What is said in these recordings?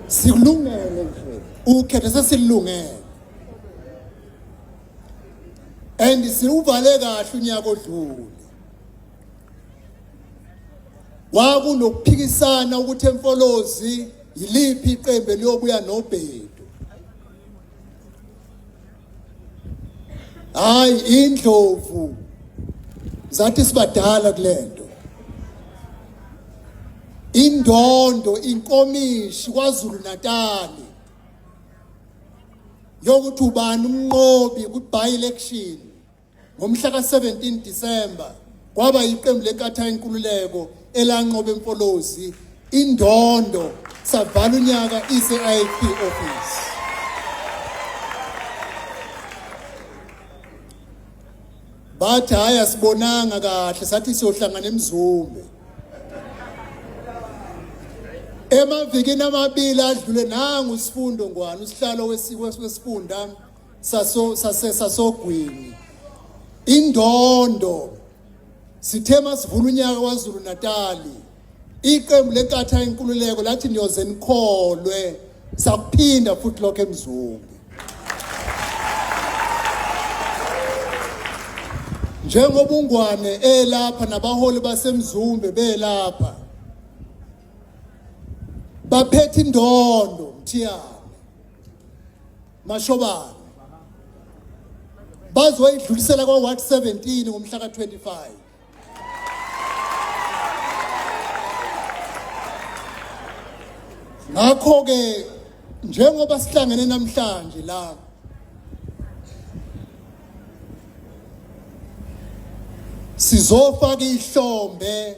silungele nje ukhetho sesilungele and siwuvale kahle unyaka odlule kwakunokuphikisana ukuthi emfolozi yiliphi iqembu eliyobuya nobhedu hayi indlovu zathi sibadala kulento indondo inkomishi kwaZulu Natal yokuthi ubani umnqobi ku-by election Ngomhla ka-17 Disemba kwaba yiqembu lenkatha yenkululeko elanqoba emfolozi indondo savala unyaka ise-IFP office. Bathi hhayi asibonanga kahle sathi siyohlangana emzumbe. Emavikini amabili adlule nangu isifundo ngwani usihlalo wesifunda saso sase sasogwini indondo sithe masivula unyaka kwaZulu Natali iqembu lenkatha inkululeko lathi niyoze nikholwe sakuphinda futhi lokho emzungu njengoba ungwane elapha nabaholi basemzumbe belapha baphethe indondo mthiyana Mashobane bazoyidlulisela kwa Ward 17 ngomhla ka 25 ngakho ke njengoba sihlangene namhlanje la sizofaka ihlombe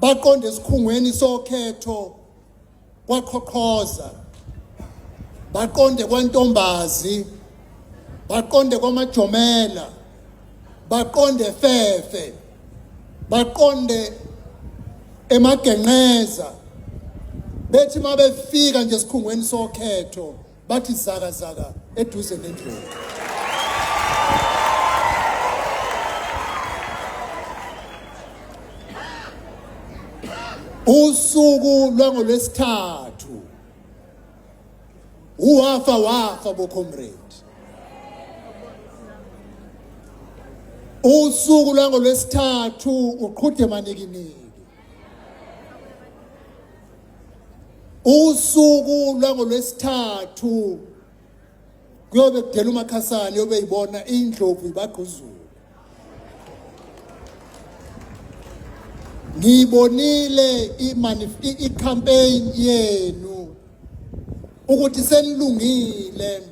baqonde esikhungweni sokhetho kwaqhoqhoza baqonde kwantombazi baqonde kwamajomela baqonde fefe baqonde emagenqeza bethi mabefika nje esikhungweni sokhetho bathi zaka zaka eduze nendlovu usuku lwangolwesithathu uwafa wafa bocomrade usuku lwangolwesithathu uqhude manikiniki usuku lwangolwesithathu kuyobe kudela umakhasana yobe yibona indlovu ibagquzula ngiyibonile i-campaign yenu ukuthi senilungile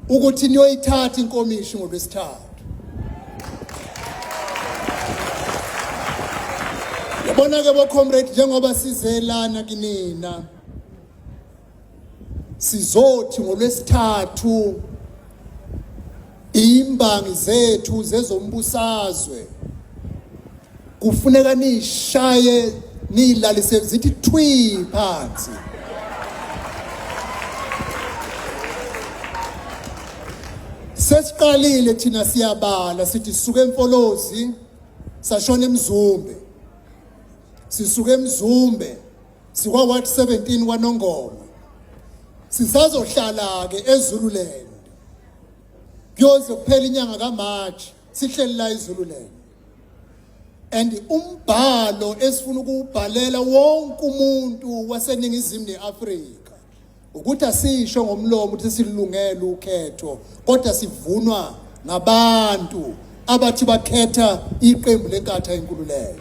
ukuthi niyoyithatha inkomishi ngolwesithathu yabona ke bo comrade njengoba sizelana kinina sizothi ngolwesithathu Imbangi zethu zezombusazwe kufuneka nishaye nilalise zithi thwi phansi. Sesiqalile thina siyabala sithi suke emfolozi sashona emzumbe. Sisuke emzumbe sikwa ward 17 kwaNongoma sisazohlala ke eZululand kuyoze kuphela inyanga kaMarch sihleli la eZululand and umbhalo esifuna ukubhalela wonke umuntu waseningizimu neAfrika ukuthi asisho ngomlomo ukuthi silungele ukhetho kodwa sivunwa ngabantu abathi bakhetha iqembu lenkatha enkululeko